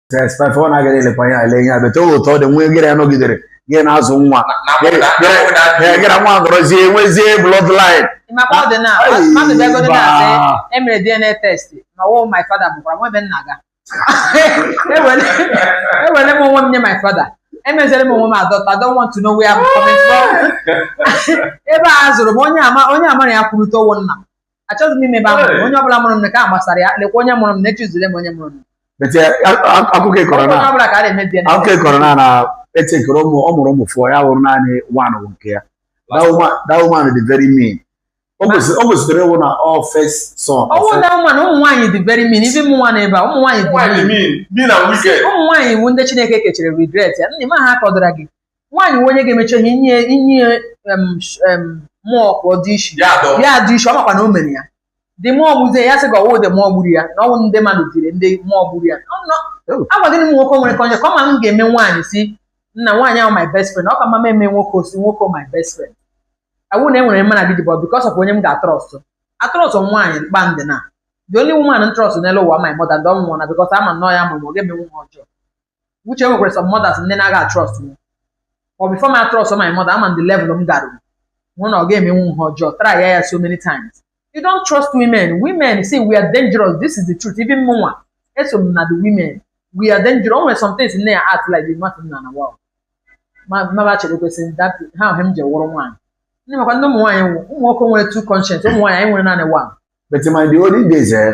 tespef ọ na-agaghị elekwa ya ele ihe abịa towe ụtọ dị nwa egere ya nọgidere gị na-azụ nwa gị na nwa gọrọzie nwezie bloodline maka ọ dị na mmadụ bịagoro na-asị emere dna test ma wụ my father bụkwara nwa ebe nna ga ewere m onwe m nye my father emezere m onwe m adọta I don't want to know where I'm coming from ebe a zụrụ m onye ama onye amara ya kwurute ọ wụ nna m achọghị m ịma ebe a mụrụ m onye ọbụla mụrụ m ka a gbasara ya lekwa onye mụrụ m na echizule m onye mụrụ m better akụkọ ị kọrọ na onye ọbụla ka a na-emebi ya akụkọ ị kọrọ na na etekere ụmụ ọ mụrụ ụmụ four ya wụrụ naanị one wụ nke ya That woman- that woman dị very mean o kwesịrị o kwesịrị ịwụ na ọ first son ọ ọwụ na ụmụ na ụmụ nwaanyị dị very mean even mụnwa n'ebe a ụmụ nwaanyị dị Nwaanyị mean mean, mean and wicked. ụmụ nwaanyị ị wụ ndị chineke kechara regret ya nna ma ha kọdara gị nwaanyị nwe onye ga-emecha ihe inye inye em, sh- em, mmụọ ka ọ du isi ya dọ ya du isi ọ makwa na o mere ya ndị mmụọ gbuzie ya sị ka ọ wụ ndị mmụọ gburu ya na ọ wụ ndị mmadụ tiri ndị mmụọ gburu ya Ọ nọ- Oh. agwa gịnị m nwoke nwere ka onye ka ọ ma m ga-eme nwaanyị sị na nwaanyị ahụ my best friend ọ ka mma m eme nwoke osi nwoke my best friend awụ na enwere mma na gị dịbọ because of onye m ga-atrust atrust nwaanyị mkpa ndị na the only woman m trust n'elu ụwa my mother ndị ọmụmụ na because ama m na ọ ya mụrụ m ọ ga-eme nwa ọjọọ which e nwekwara some mothers ndị na-aga trust m ọ before m atrust my mother ama m the level m gara hụ na ọ ga-emenwu m ihe ọjọọ try ya ya so many times you don't trust women women say we are dangerous this is the truth even mụnwa eso m na the women we are dangerous o nwere some things nne ya act like the nothing na na wow maba chere kwesịrị that ha ahụ m ji wụrụ nwaanyị ndị makwa ndị ụmụ nwaanyị nwụ ụmụ nwoke nwere two conscience ụmụ nwaanyị anyị nwere naanị one But my the olden days, eh,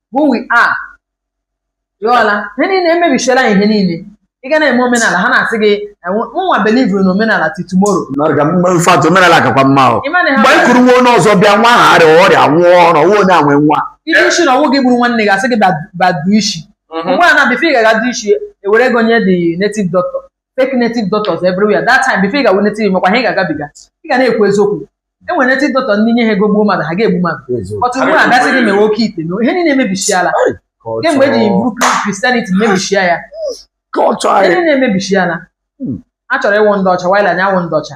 who we are ịghọla ihe niile emebichiela ihe niile ị ga na-eme omenala ha na-asị gị nwa believuru na omenala till tomorrow in fact omenala kakwa mma ahụ mgbe e kuru nwa onye ọzọ bịa nwa ahụ arịa ọrịa nwụọ ọrụ nwa onye anwe nwa ide isi na ọ wụ gị gburu nwanne gị a sị gị bịa du isi mgbe a na before ị ga-aga du isi ewere ego nye the native doctor fake native doctors everywhere that time before ị ga-awụ native makwa ha ị ga-agabiga ị ga na-ekwu eziokwu e nwere native doctor ndị ị nye ha ego gbuo mmadụ ha ga-egbu mmadụ but ugbu a a ga-asị gị mewe oke ite mewe ihe niile emebichiala kemgbe eji buru Christianity mebichia ya ihe niile emebichiala hmm. a chọrọ ịwụ ndị ọcha while anyị awụ ndị ọcha